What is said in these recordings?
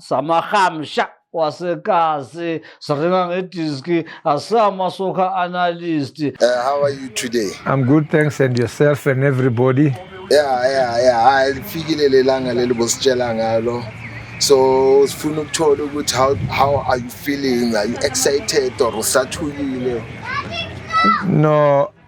samarhamsha wasekazi siringa ngediski asama soccer analyst Uh, how are you today? I'm good, thanks, and yourself and everybody. Yeah, yeah, yeah. Hayi lifikile lelanga leli bositshela ngalo. So sifuna ukuthola ukuthi how how are you feeling? Are you excited or usathukile? No,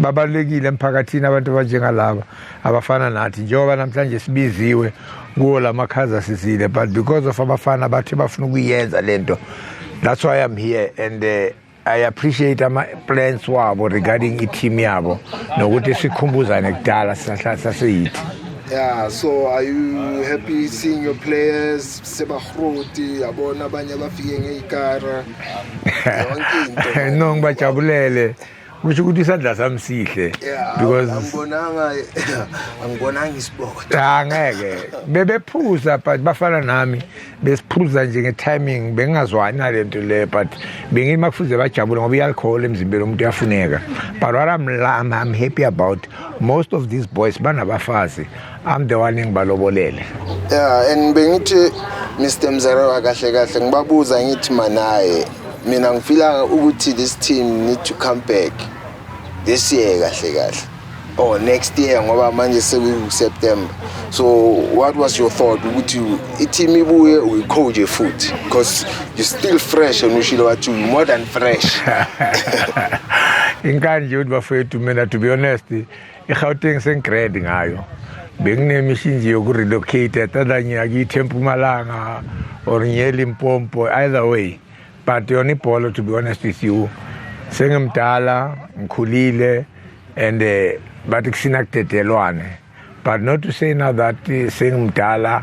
babalulekile emphakathini abantu abanjengalaba abafana nathi njengoba namhlanje sibiziwe kuwo la makhaza sizile but because of abafana bathi bafuna ukuyenza le nto that's why i'm here and uh, i appreciate ama-plans wabo regarding i-team yabo nokuthi sikhumbuzane kudala sisahlala saseyithi Yeah, so are you happy seeing your players sebahroti yabona abanye abafike ngeyikara yonke into man. no ngibajabulele kusho ukuthi isandla sami sihle Yeah, because angibonanga angibonanga isiboda cha ngeke bebephuza but bafana nami besiphuza nje nge-timing bengingazwani nale nto le but bengithi uma kufuze bajabule ngoba i-alcohol emzimbeni omuntu uyafuneka but what I'm, I'm, I'm happy about most of these boys banabafazi I'm the one engibalobolele. Yeah, and bengithi Mr Mzarewa kahle kahle ngibabuza ngithi manaye mina ngifila ukuthi this team need to come back this year kahle kahle or next year ngoba manje seku-september so what was your thought ukuthi i-team ibuye uyicoje futhi because you still fresh and ushilo wathi more than fresh inkanje ukuthi bafowethu mina to be honest egauteng sengigrad ngayo benginemishinji yokurelocate atadanye akithi empumalanga or ngiye limpompo either way but yona ibhola to be honest with you sengimdala ngikhulile and eh, bathi kusina kudedelwane but not to say now that eh, sengimdala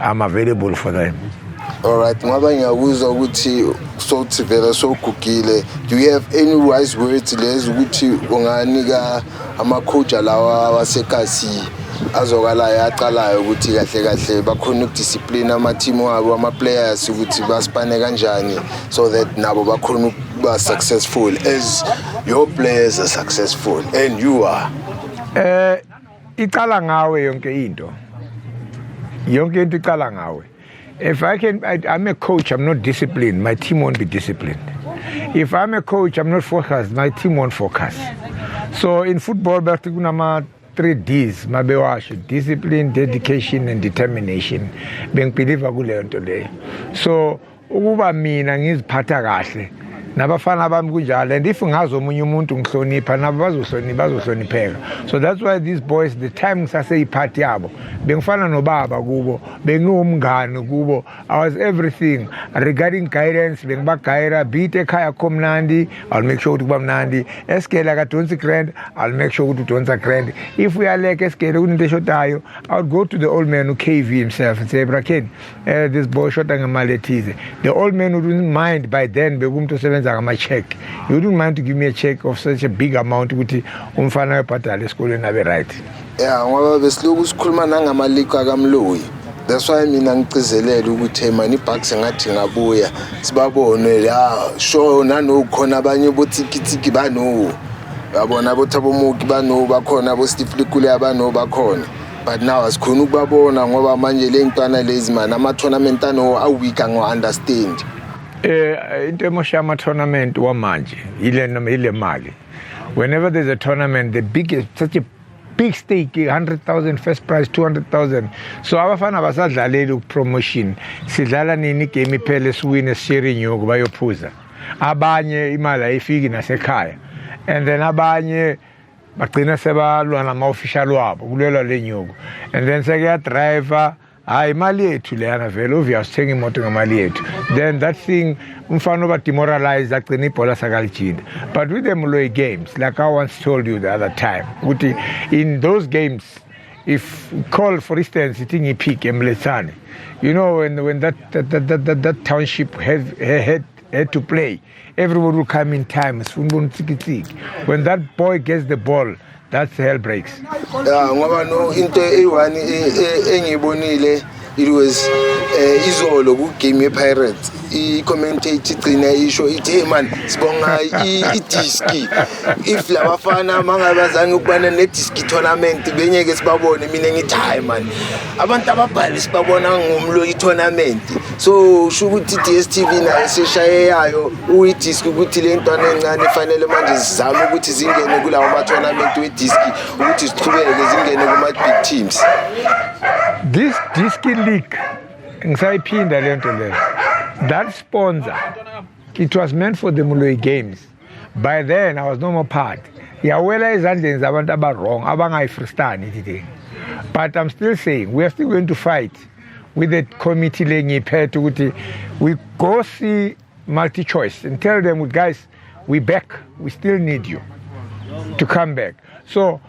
I'm available for them. Alright, ngoba ngiyakuzwa ukuthi sothi vela sogugile. Do you have any wise words lezi ukuthi unganika amakhoja lawa wasekasi azokalayo aqalayo ukuthi kahle kahle bakhona ukudiscipline ama-team wabo ama-players ukuthi basipane kanjani so that nabo bakhona ukuba successful as your players are successful and you are uh, icala ngawe yonke into yonke into icala ngawe if i can I, i'm a coach i'm not disciplined my team won't be disciplined if i'm a coach i'm not focused my team won't focus so in football bathi kunama three D's mabewasho discipline dedication and determination bengibhiliva kuleyo nto leyo so ukuba mina ngiziphatha kahle nabafana bami kunjalo and if ngazi omunye umuntu ngihlonipha nabo bazohlonipha bazohlonipheka so that's why these boys the time ngisaseyiphathi yabo bengifana nobaba kubo bengiwumngani kubo i was everything regarding guidance bengibagayira beat ekhaya kho mnandi i'll make sure ukuthi kuba mnandi esigele akadonsi grand i'll make sure ukuthi udonsa grand if uyaleka esigele kunento eshodayo i would go to the old man ukv himself and say brakeni eh this boy short ngemali ethize the old man wouldn't mind by then bekumuntu osebenza ngama check he wouldn't mind to give me a check of such a big amount ukuthi umfana uyabhadala esikoleni abe right yeah ngoba besilokhu sikhuluma nangama leak akamloyi that's why mina ngicizelele ukuthi hey mani ibhucks ngathi ngabuya sibabone la sho nanokhona abanye bothikithiki banowo yabona bothabo muki banowo bakhona bo steve likule abanowo bakhona but now asikhona ukubabona ngoba manje le ntwana lezi mani ama-tournament ano aweek angiwa-understand eh into emosha ama-tournament wamanje yile yile mali whenever there's a tournament the biggest such a big stake 100,000 first prize 200,000 so abafana basadlaleli ukupromotion sidlala nini igame iphele siwine sishere inyuku bayophuza abanye imali ayifiki nasekhaya and then abanye bagcina sebalwa nama-official wabo kulwelwa le nyuko and then sekuyadrayiva hayi imali yethu leyana vele ovia sithenga imoto ngemali yethu then that thing umfana oba demoralize agcina ibhola sakalijinda but with the mloy games like i once told you the other time ukuthi in those games if call for instance ithi ngiphike emlethane you know when, when that, that, that, that, that township have, had had to play. Everybody will come in time. When that boy gets the ball, that's hell breaks. Yeah, ngoba no into eyi-one engiyibonile it was uh, izolo kugame yepirates i-commentate igcina isho ithi hey man sibonga idiski if labafana mangabazange ukubana nediski tournament benyeke sibabone mina ngithi hayi man abantu ababhali sibabona ngomlo i-tournament so usho ukuthi i-dstv nayo seshaye yayo uyidiski ukuthi le ntwana encane fanele manje zizame ukuthi zingene kulawo ma-tournament wediski ukuthi ziqhubeke zingene kuma-big teams this diski league ngisayiphinda le nto leyo that sponsor it was meant for the muloyi games by then i was no more part yawela ezandleni zabantu abawrong abangayifristani today but i'm still saying we are still going to fight with the committee le ngiyiphethe ukuthi we go see multi-choice and tell them guys we back we still need you to come back so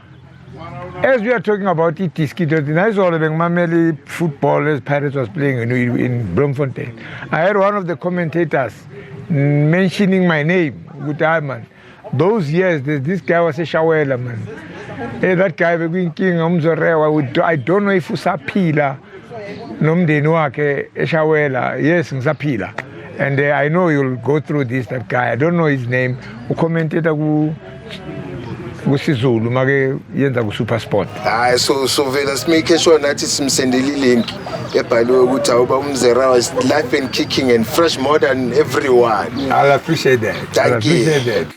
as we are talking about i-disquito nayizolo bengimamela i-football as pirates was playing in, in bloemfontein i had one of the commentators mentioning my name ukuthi hayi man those years this guy waseshawela man hey, eh, that guy bekuyinkinga umzorewa i don't know if usaphila nomndeni wakhe eshawela yes ngisaphila and uh, i know you'll go through this that guy i don't know his name ucommenteta ku kusizulu make yenza kusuper sport hayi so sovela simake sure nathi simsendele ilink ebhaliwe ukuthi awuba umzera was life and kicking and fresh more than everyone i'll appreciate that Thank I'll appreciate you. that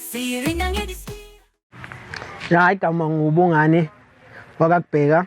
hayi gama ngubungane wakakubheka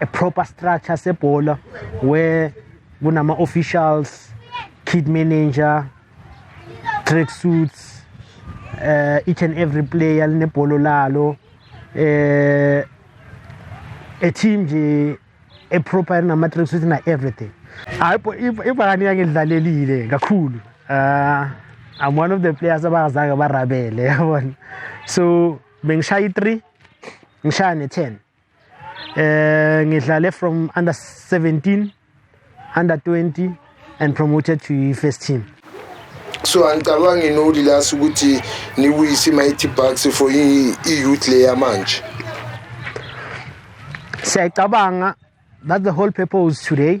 a proper structure sebhola where kunama officials kid manager track suits uh, each and every player linebholo lalo eh a team nje a proper nama track suits na everything hayibo ibhakani yake lidlalelile kakhulu uh I'm one of the players abangazange barabele yabona so bengishaya i3 ngishaya ne10 eh ngidlale from under 17 under 20 and promoted to first team so angicabangi nodi la ukuthi niwisi mighty bucks for i-youth le yamanje siyayicabanga that's the whole purpose today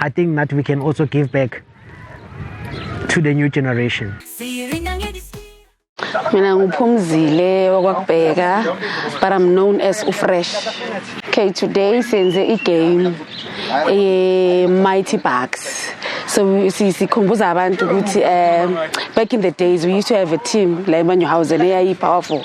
I think that we can also give back to the new generation. mina nguphumzile wakwakubheka but i'm known as ufresh okay today senze igame eye-mighty bucks so sikhumbuza abantu ukuthi um back in the days we used to have a team la emanyohausen eyayi-powerful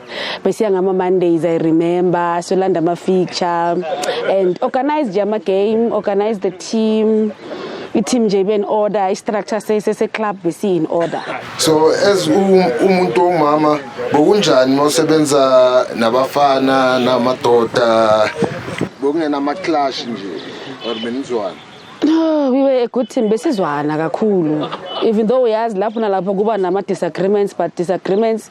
besiya ngama Mondays I remember solanda ama feature and organize nje ama game organize the team i-team nje ibe in order i-structure sese-club besi in order so as umuntu omama bokunjani mosebenza nabafana namadoda bokungena ama-clash nje or benizwana No, we were a good team besizwana kakhulu even though uyazi lapho nalapho kuba nama-disagreements but disagreements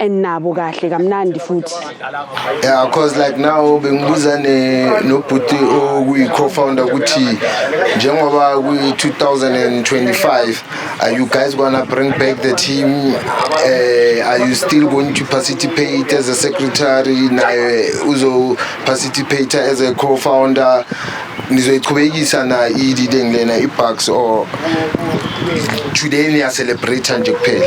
and nabo kahle kamnandi futhi yeah because like now bengibuza ne nobhuti okuyi co-founder ukuthi njengoba kwi-2025 are you guys gonna bring back the team uh, are you still going to participate as a secretary naye uzo participate as a co-founder nizoyichubekisa na i-leading lena i-bucks or today niyacelebrate nje kuphela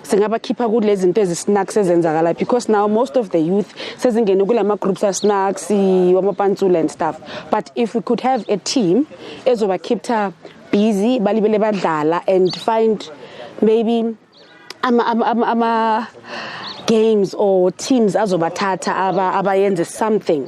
singabakhipha kulezi zinto ezisnacks ezenzakala because now most of the youth sezingene kulama groups asnacks wamapantsula and stuff but if we could have a team ezoba keepta busy balibele badlala and find maybe ama ama ama, ama games or teams azobathatha abayenze something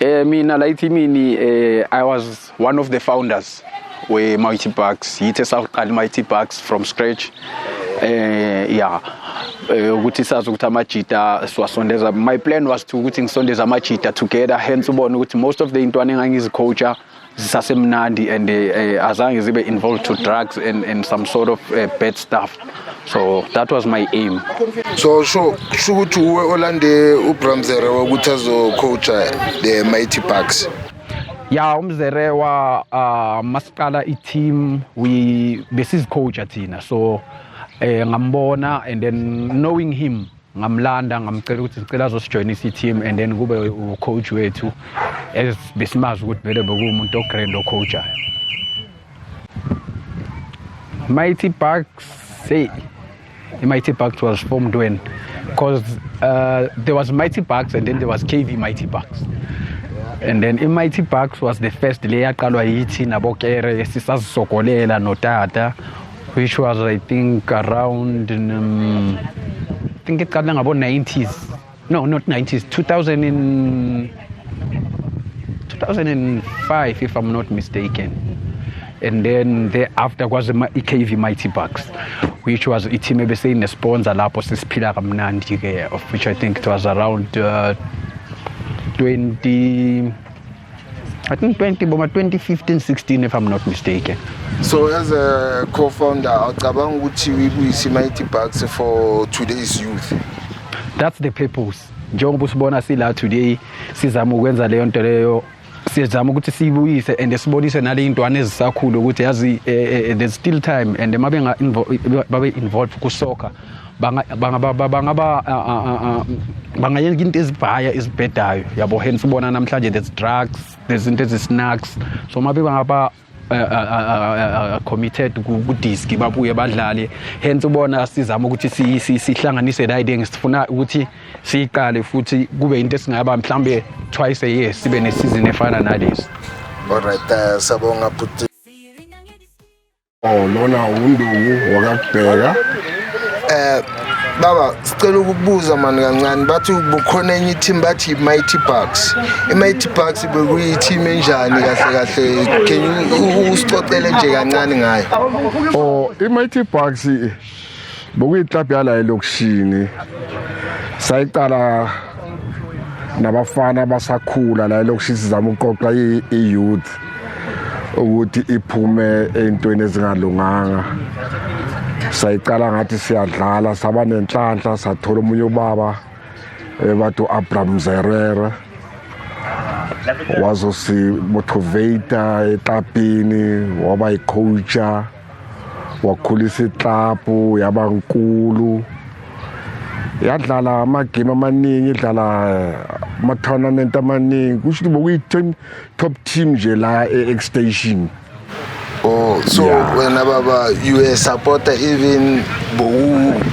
Eh mina la ithimini eh I was one of the founders we Mighty Bucks. Yithe saqala Mighty Bucks from scratch. Eh yeah. Eh, ukuthi sazi ukuthi amajita siwasondeza my plan was to ukuthi ngisondeza amajita together hence ubone ukuthi most of the intwana engangizicoacha zisasemnandi and uh, azange zibe involved to drugs and, and some sort of uh, bad stuff so that was my aim so sho kusho ukuthi uwe olande ubramzere wokuthi azocoacha the mighty bucks ya umzere wa uh, masiqala i-team besizicoacha thina so um ngambona and then knowing him ngamlanda ngamcela ukuthi sicela azosijoyinisa i-team and then kube ucoach wethu as besimazi ukuthi vele bekuwumuntu ogrand ocoachayo mighty bucks hey mighty bucks was formed when because uh, there was mighty bucks and then there was kv mighty bucks and then i-mighty bucks was the first le yaqalwa yithi nabokere sisazisogolela notata which was i think around um, i think iqala ngabo-90s no not 90s 2000 in 2005 if i'm not mistaken and then thereafter kwaze i-kv mighty bucks which was i-team ebeseyinesponsor lapho sesiphila kamnandi-ke of which i think it was around uh, 20 I think 20 boma 2015 16 if I'm not mistaken. So as a co-founder awucabanga ukuthi uyibuyise Mighty Bucks for today's youth. That's the purpose. Njengoba usibona sila today sizama ukwenza leyo nto leyo siyezama ukuthi siyibuyise and sibonise naleyintwana ezisakhulu ukuthi yazi eh, eh, eh, there's still time and mabe involved ku soccer bangayenza into ezibhaya ezibhedayo yabo hence ubona namhlanje there's drugs there's into ezi-snacks so mabe bangaba eh, eh, eh, committed kudiski babuye badlale hence ubona sizama ukuthi sihlanganise la idea ngisifuna ukuthi siyiqale futhi kube into esingaba mhlawumbe twice a year sibe nesizini efana nalezi Alright, uh, sabonga puti. Oh lona unduku wakakubheka. Eh baba sicela ukubuza mani kancane bathi bukhona enye team bathi Mighty Bucks. IMighty Bucks bekuyi team enjani kahle kahle? Can you usixoxele nje kancane ngayo? Oh iMighty Bucks bokuyiklabhu yala elokishini sayiqala nabafana abasakhula la elokishini sizama ukuqoqa i-youth ukuthi iphume ey'ntweni ezingalunganga sayiqala ngathi siyadlala saba nenhlanhla sathola omunye ubaba ebathi eh, u-abram zerere wazosibothuveyita eklabhini waba yicoacha wakhulisa iklabhu yaba nkulu yadlala amagame amaningi idlala eh, ama-tournament amaningi kusho ukuthi bokuyi-ten top team nje la e-extension Oh, so yeah. when Baba, you were a supporter even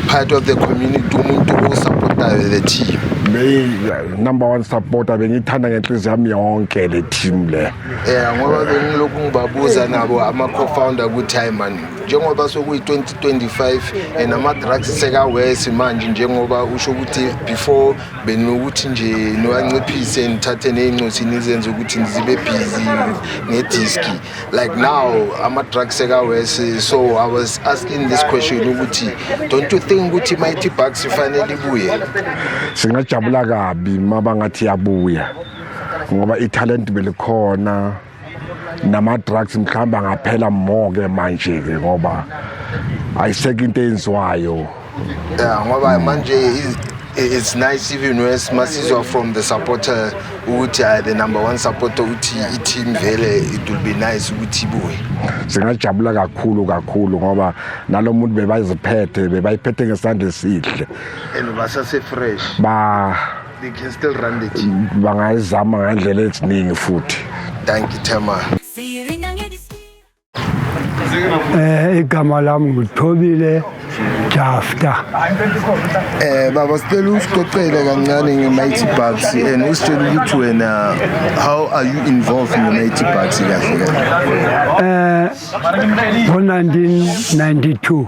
part of the community, umuntu osupportayo the team. Beyi number one supporter bengiyithanda ngenhliziyo yami yonke le team le. um ngoba bengilokhu ngibabuza nabo ama-co-founder ukuthi hayi mani njengoba sokuyi-2025 and ama-drugs sekawesi manje njengoba usho ukuthi before benokuthi nje niwanciphise nithathe ney'ncosi nizenze ukuthi nizibe busy ngediski like now ama-drugs sekawesi so i was asking this question ukuthi don't you think ukuthi mighty bucks ifanele ibuye singajabula kabi uma bangathi yabuya ngoba ithalent belikhona nama drugs mhlamba ngaphela more ke manje ke ngoba ayiseke into enziwayo yeah ngoba manje it's nice even worse masizwa from the supporter ukuthi uh, the number one supporter ukuthi i-team vele it will be nice ukuthi ibuye singajabula kakhulu kakhulu ngoba nalo muntu bebayiziphethe bebayiphethe ngesandla esihle and basase-fresh ba they can still run the team bangayizama ngandlela eziningi futhi thank you Thema eh igama lami ngithobile Jafta eh baba sicela usiqoqele kancane ngeMighty Bucks and usitshela ukuthi wena how are you involved in the Mighty Bucks kahle kahle eh ngo 1992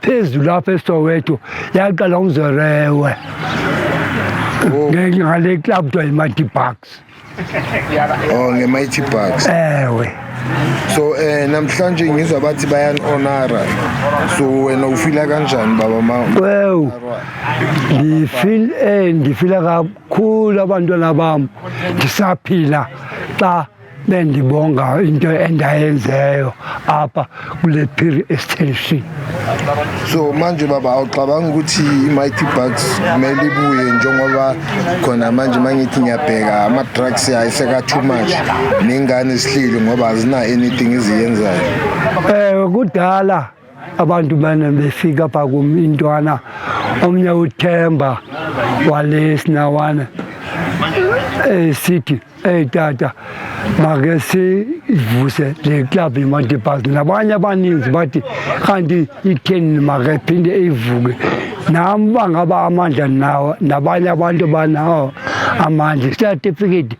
phezulu lapha esoweto yaqala ngizorewe oh. ngale club kuthiwa yi-mighty bucks o oh, nge-mighty bucks ewe so um namhlanje ngizwa bathi bayan-onara so wena ufila kanjani baba ma wew ngifil um eh, ngifila kakhulu abantwana bam ndisaphila xa bendibonga into endayenzeyo apha kule piri extension so manje baba awucabanga ukuthi i-mighty bucks kumele ibuye njengoba khona manje uma ngithi ngiyabheka ama-drugs yayo seka-too much ney'ngane zihleli ngoba azina-anything eziyenzayo um kudala abantu mane befika pha kum intwana omnye uthemba wale sinawana um sithi eyi tata make sivuse le club yemadibas nabanye abaninzi bathi kanti itheni make phinde ivuke nam bangaba amandla nawo nabanye abantu banawo amandla isatifiketi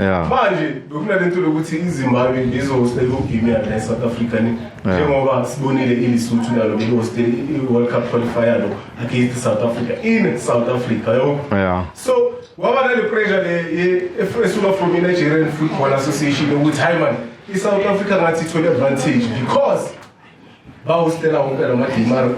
Yeah. manje bekunale nto lokuthi izimbabwe lizohosta iwugame yala e-south africa ni njengoba sibonile ilisuthu nalo belihoste i-world cup qualifier lo against south africa in south africa yo Yeah. so kwaba nale pressure le ye- ef- esuka from i-nigerian football association yokuthi hayi mani i-south africa ngathi ithole advantage because bawusitela wonke la madimar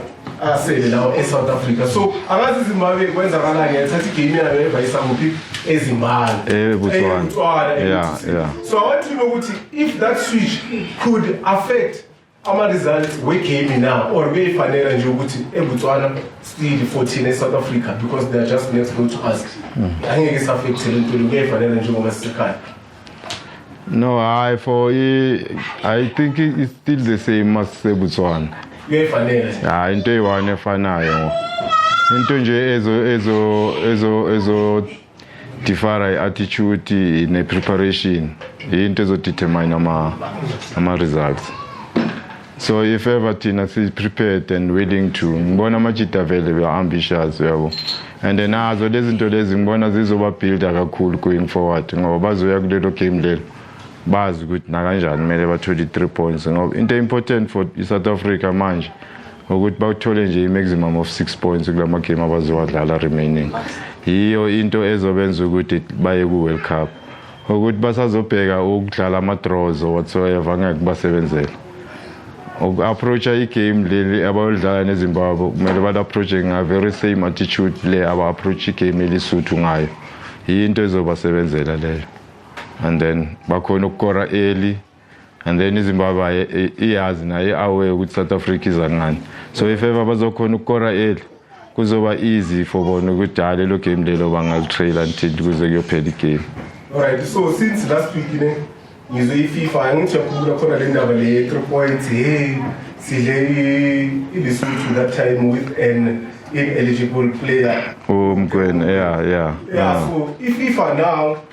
asele lawo e-south africa so angazi izimbabwe kwenzakalani yathatha igame yayo yevayisa kuphi ezimbala Eh, Botswana. Botswana, eh, Yeah, Botswana. yeah. so i want to know ukuthi if that switch could affect ama-results wegame now or beyifanela nje ukuthi ebotswana still 14 e-south africa because they are just next door to us angeke isaffecthe le nto le kuyayifanela njengoba sisekhaya No, I for I think it's still the same as Botswana. Kuyefanele. Ah, into eyi-one efanayo. Into nje ezo ezo ezo ezo differ i-attitude ne-preparation into ezodetermine ama ama-results so if ever thina si-prepared and willing to ngibona amajita vele we are ambitious uyabo and nazo lezi zinto lezi ngibona zizobabuilda kakhulu going forward ngoba bazoya kulelo game lelo bazi ukuthi nakanjani kumele bathole i-three points ngoba into important for i-south africa manje ukuthi bawuthole nje i-maximum of six points kula magame abazowadlala remaining yiyo into ezobenza ukuthi baye ku-world cup ukuthi basazobheka ukudlala ama-draws or whatsoever angeke kubasebenzele uku-approacha igame leli abayolidlala nezimbabwe kumele bali-approache nga-very same attitude le aba-approache igame elisuthu ngayo yinto ezobasebenzela leyo and then bakhona ukukora early and then izimbabwe iyazi naye aware ukuthi south africa iza ngani so if ever bazokhona ukukora eli kuzoba easy for bona ukuthi hayi lelo game lelo bangalitrail until kuze kuyophela igame alright so since last week ne ngizwe ififa angithi yakhulula khona le ndaba le three points hey sidle ilisuthu that time with an ineligible player umgwena yeah yeah yeah so ififa now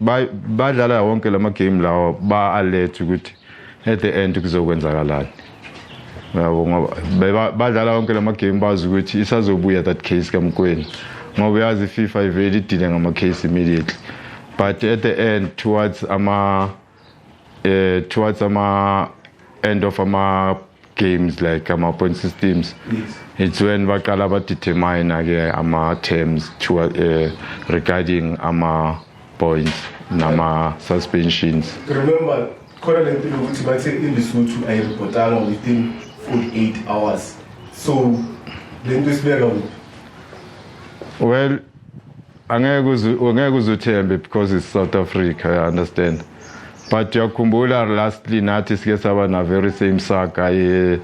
badlala wonke lama game lawa ba alert ukuthi at the end kuzokwenzakalani yabo ngoba badlala wonke lama game bazi ukuthi isazobuya that case kamkweni ngoba uyazi FIFA ivele idile ngama case immediately but at the end towards ama uh, towards ama end of ama games like ama point systems yes. it's when baqala ba determine ke ama terms to uh, regarding ama points nama suspensions remember khona le nto ukuthi bathe ilisuthu ayiripotanga within 48 hours so le nto isibeka well angeke uze angeke uze uthembe because it's South Africa I understand but uyakhumbula lastly nathi sike saba na very same saga eh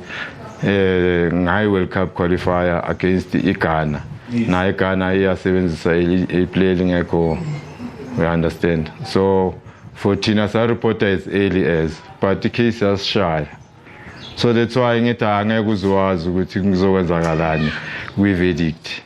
eh ngayi World Cup qualifier against iGhana naye iGhana iyasebenzisa i play lingekho we understand so for thina sa reporter as early as but the case yasishaya so that's why ngithi angeke uziwazi ukuthi kuzokwenzakalani kwi verdict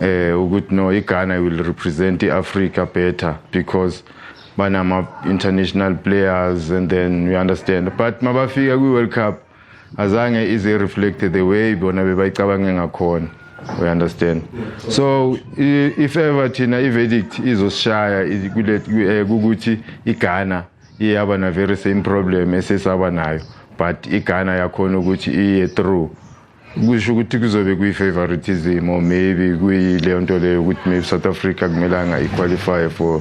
eh ukuthi no iGhana will represent iAfrica better because banama international players and then you understand but mabafika kwi World Cup azange ize reflect the way bona bebayicabange ngakhona we understand so if ever thina iverdict izosishaya eh, ukuthi iGhana iyaba na very same problem esesaba nayo but iGhana yakhona ukuthi iye through kusho ukuthi kuzobe kuyi-favoritism or maybe kuyileyo nto leyo ukuthi maybe south africa kumelanga i-qualify for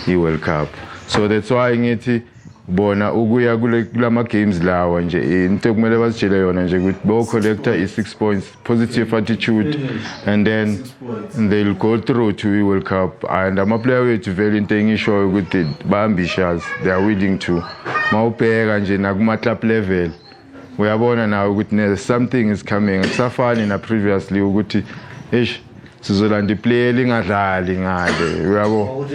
i-world cup so that's why ngithi bona ukuya kula ma-games lawa nje into ekumele bazitshele yona nje ukuthi bo-collecta i-six points positive attitude and then they'll go through to i-world cup and amaplayer wethu vele into engishoyo ukuthi ba-ambitious they are willing to ma ubheka nje nakuma-club level uyabona nawe ukuthi ne something is coming kusafani na previously ukuthi eish sizolanda iplayer lingadlali ngale uyabo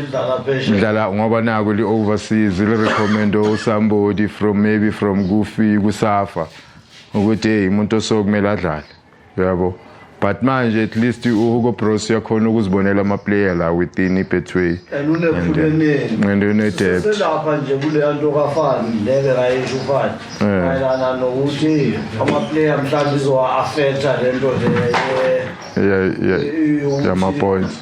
ngidlala ngoba naku li overseas li recommend somebody from maybe from kufi kusafa ukuthi hey umuntu osokumele adlale yabo but manje at least uhugo bros uyakhona ukuzibonela ama-player la within i-betway and unedebtselapha uh, nje kuleya nto kafani leke kayesho ufani eh. mayelana nokuthi ama-player mhlawumbe izowa-afetha le nto leyamapoints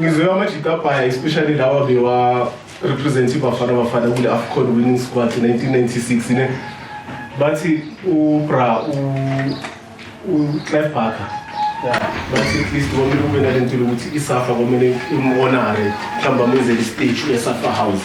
ngizwe amajita abhaya especially lawa bewa represent ibafana bafana kule afcon winning squad 1996 ne bathi ubra uclef barker bathi at least komele kube nale nto lokuthi isafa komele imonare mhlawumbe amenzele istage esafa house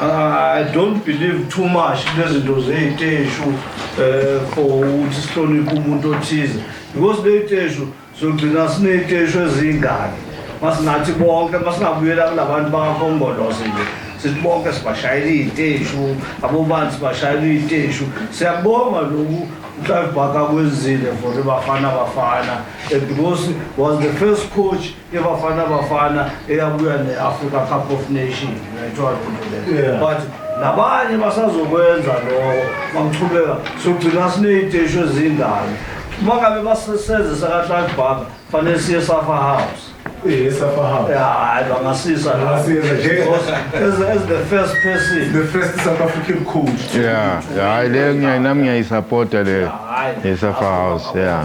I don't believe too much nezinto zey'teshu um eh, for ukuthi sihloniphe umuntu othize because ley'teshu sogcina siney'teshu eziyingane masinathi bonke masingabuyela kula bantu bakakhongolose nje sithi bonke sibashayela iy'teshu abobani sibashayela iy'teshu siyakubonga loku uclive baka kwenzile for ibafana bafana eh, because was the first coach iBafana Bafana eyabuya ne-Africa Cup of Nations ngayithola into leyo but nabanye basazokwenza lokho bamchubeka sogcina siney'teshi ezingane uma ngabe basesenze sakatlak bhaka fanele siye safa house hayi bangasisa as the first person the first south african coach ya hayi leyo nami ngiyayisapota leyo yesafa house ya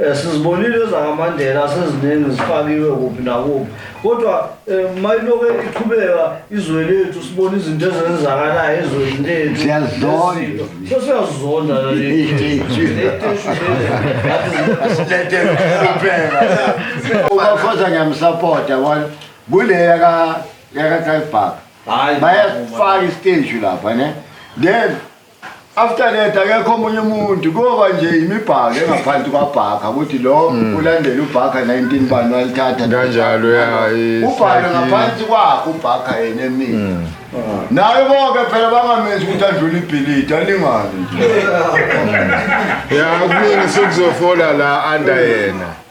Eh, sizibonile ezakaMandela seziningi zifakiwe kuphi nakuphi kodwa eh, mayiloke iqhubeka izwe lethu sibona izinto ezenzakalayo ezweni lethu Siyazizonda. Izinto. so siyazizonda ubafoza ngiyamsapota wona kule yaka yaka drive park hayi bayasifaka isiteji lapha ne then after that akekho omunye umuntu kuyoba nje imibhaka engaphansi kwabhaka ukuthi lo hmm. ulandela ubhaka 19 bani walithatha kanjalo ubhaka ngaphansi kwakho ubhaka yena emini hmm. ah. naye konke phela bangamenzi ukuthi adlule ibhilidi alingane nje ya kuningi sekuzofola la under yena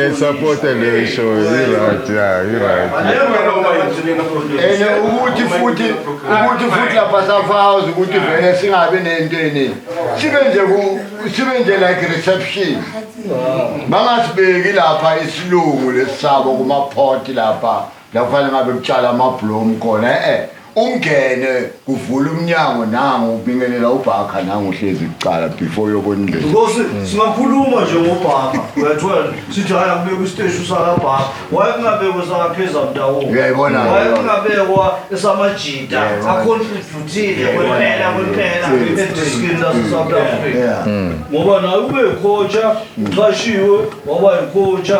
ngisapote le show i-right ya i-right and ukuthi futhi ukuthi futhi lapha safazi ukuthi vele singabi nento eningi sibe nje sibe nje like reception bangasibeki lapha isilungu lesisabo kumaphoti lapha La kufanele ngabe kutshala amablomu khona e-e ungene kuvula umnyango nangu ubingelela ubhakha nangu uhlezi kucala before uyobona indlela Nkosi singakhuluma nje ngobhaka uyathola sithi hayi akubekwa isiteshi usakabhaka wayekungabekwa esakapheza mndawonye Uyayibona ke wayekungabekwa esamajita Uyayibona. akhontribhutile kwempela kwempela ediskini lase-south africa Yeah. ngoba naye ubekhotsha uqashiwe waba yikhotsha